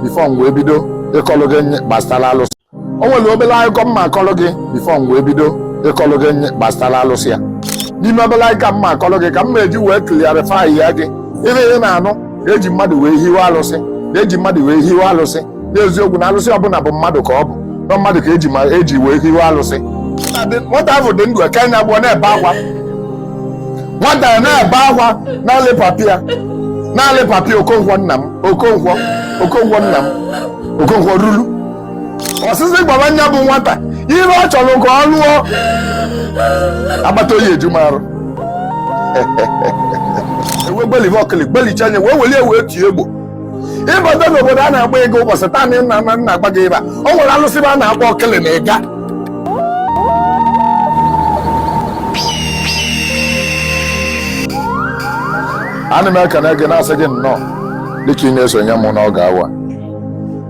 before m wee bido ịkọlụ gị gbasara alụsị o nwere obere akụkọ m ma-akọlụ gị before m wee bido ịkọlụ gị gbasara alụsị a n'ime obere akụkọ m ma-akọlụ gị ka m ma-eji wee clarify ya gị ihe ị na-anụ eji mmadụ wee hiwe alụsị eji mmadụ wee hiwe alụsị n'eziokwu na alụsị ọbụla bụ mmadụ ka ọ bụ na mmadụ ka eji wee hiwe alụsị nwata ahụ dị ndụ eke nya agbụ ọ na-ebe akwa nwata na-ebe akwa na-alị papi ya na-alị papi okonkwo nna m okonkwo okonkwo nna m okonkwo ruru osisi gbaba nya bụ nwata ihe ọ chọrọ ka ọ lụọ agbata oyi eju marụ e wee gbelive ọkịlị gbelichaa nya wee welie wee tie egbo ị bata n'obodo a na-akpọ ịga ụbọchị taa na nna nna nna agba gị ịba o nwere alụsị a na-akpọ ọkịlị na ịga ana m ekene gị na-asị gị nnọọ dịka ị na-esonye m n'oge awa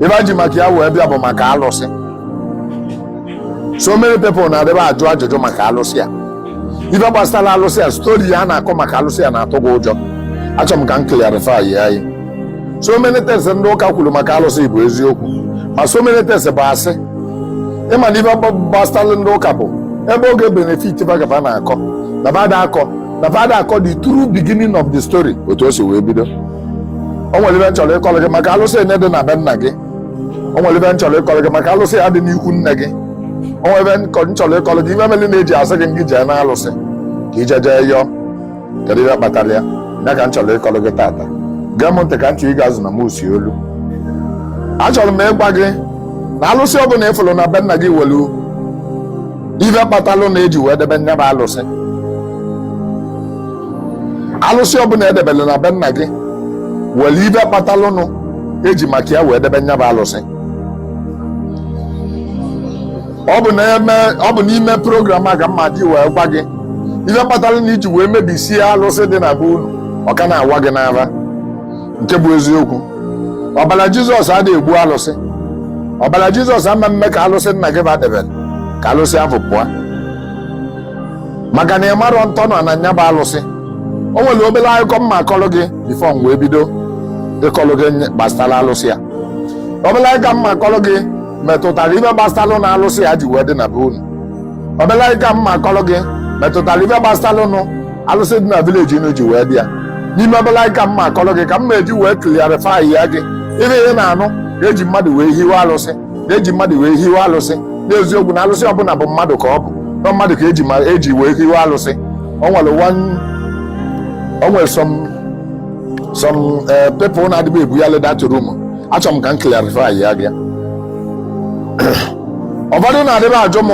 ife m ji maka ya wee bịa bụ maka alụsị so many people na-adịba ajụ ajụjụ maka alụsị a ife gbasara alụsị a story a na-akọ maka alụsị a na-atụ gị ụjọ achọ m ka m clarify ya anyị so many things ndị ụka kwuru maka alụsị bụ eziokwu ma so many things bụ asị ị ma na ife gbasara ndị ụka bụ ebe ọ ga-ebenefit fa ka fa na-akọ na fa ada akọ na fa ada akọ the true beginning of the story otu o si wee bido o nwere ife m chọrọ ịkọrọ gị maka alụsị enye dị na be nna gị o nwere ife m chọrọ ịkọrọ gị maka alụsị a dị n'ikwu nne gị o nwere ife m chọrọ ịkọrọ gị ife meli na-eji asị gị ngị jee na alụsị ka ị jee jee yọọ kedu ihe kpatara ya ya ka m chọrọ ịkọrọ gị tata gee m ntị ka m chọrọ ịga azụ na m osi olu achọrọ m ịgwa gị na alụsị ọ bụla ị fụrụ na be nna gị nwelu ife kpatalụ na eji wee debe nya bụ alụsị alụsị ọbụla edebere na be nna gị nwere ife kpatalụnụ eji maka ya wee debe nya bụ alụsị ọ bụ n'ime program a ka m ma-adị wee gwa gị ife kpatalụnụ i ji wee mebisie alụsị dị na be unu ọ ka na-awa gị n'ara nke bụ eziokwu ọbara jizọs ada egbu alụsị ọbara jizọs ama mme ka alụsị nna gị fa debere ka alụsị ahụ pụọ maka na ị marọ ntọ nọ na nya bụ alụsị o nwere obere akụkọ m ma-akọrọ gị before m wee bido ịkọrọ gị gbasara alụsị a obere akụkọ m ma-akọrọ gị metụtara ife gbasaranụ alụsị a ji wee dị na be unu obere akụkọ m ma-akọrọ gị metụtara ife gbasaranụ alụsị dị na village unu ji wee dị ya n'ime obere akụkọ m ma-akọrọ gị ka m ma-eji wee clarify ya gị ife ị na-anụ eji mmadụ wee hiwe alụsị na-eji mmadụ wee hiwe alụsị n'eziokwu na alụsị ọbụla bụ mmadụ ka ọ bụ na mmadụ ka eji ma eji wee hiwe alụsị o nwere one o nwere some some eh, people na-adịbe ebughalị that rumour achọrọ m ka m clarify ya gị ụfọdụ na-adịbe ajụ m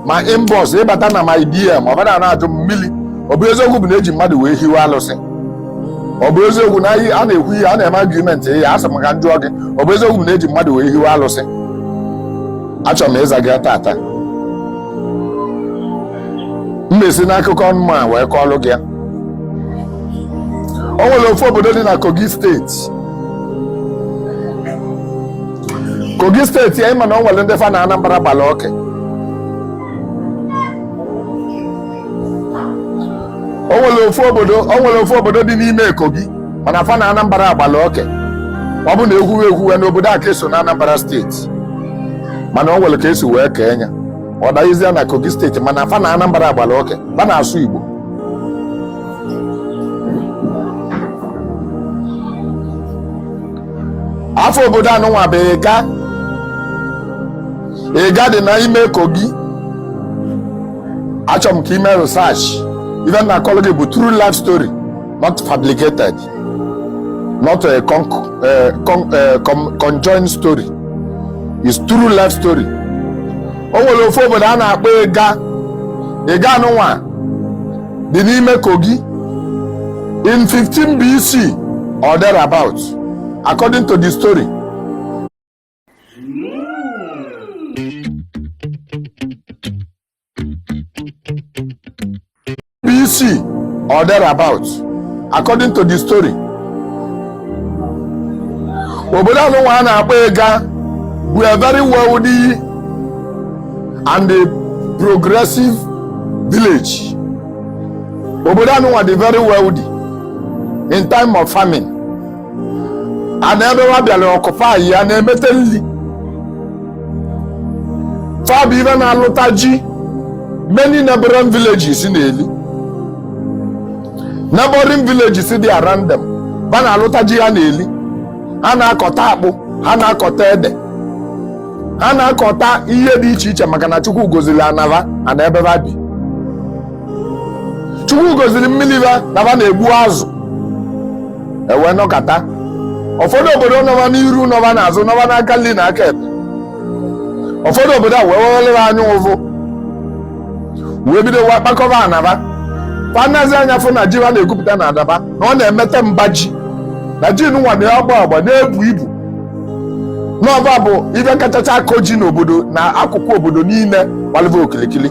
ma inbox ịbata na my DM ụfọdụ a na-ajụ m mmiri ọ bụ eziokwu bụ na eji mmadụ wee hiwe alụsị ọ bụ eziokwu na a na-ekwu ihe a na-eme argument ya asị m ka m jụọ gị ọ bụ eziokwu na eji mmadụ wee hiwe alụsị achọrọ m ịza gị taata m ma-esi n'akụkọ nụnwa wee kọọlụ gị ya o nwere ofu obodo dị na kogi steeti kogi steeti a ịma na o nwere ndị fa na anambra gbala oke o nwere ofu obodo o nwere ofu obodo dị n'ime Kogi mana fa na Anambra gbala oke ọ bụ na ekwuwe ekwuwe na obodo a ka eso na Anambra steeti mana o nwere ka esi wee kee nya ọ danyezịa na Kogi steeti mana fa na Anambra gbala oke fa na-asụ Igbo afa obodo anụnwa bụ Ịga Ịga dị n'ime Kogi achọrọ m ka i mee research ife m na-akọlụ gị bụ true life story not fabricated not a con uh, con uh, con conjoined story is true life story o nwere ofu obodo a na-akpọ ịga ịga nụnwa dị n'ime kogi in 15 BC or thereabout according to the story BC or thereabout according to the story obodo anụnwa a na-akpọ ịga bụ a very wealthy and a progressive village obodo anụnwa dị very wealthy in time of famine ana ebe wa bịara occupy ya na-emeta nri fa bụ ibe na-alụta ji many neighboring villages na-eli neighboring villages dị around them ba na-alụta ji ha na-eli ha na-akọta akpụ ha na-akọta ede ha na-akọta ihe dị iche iche maka na chukwu gozili ana ba ana ebe ba bi chukwu gozili mmili ba na ba na-egbu azụ ewee nọkata ụfọdụ obodo nọ ba n'iru nọ ba n'azụ nọ ba n'aka nri na aka ekpe ụfọdụ obodo a wee wewere ha anya ụvụ wee bido wa kpakọba ana ba fa nazi anya fụ na ji ba na-egwupụta na adaba na ọ na-emete mba ji na ji nwa na-agba agba na-ebu ibu na ọ ba bụ ibe kachacha akọ ji n'obodo na akụkụ obodo niile gbalị ba okilikili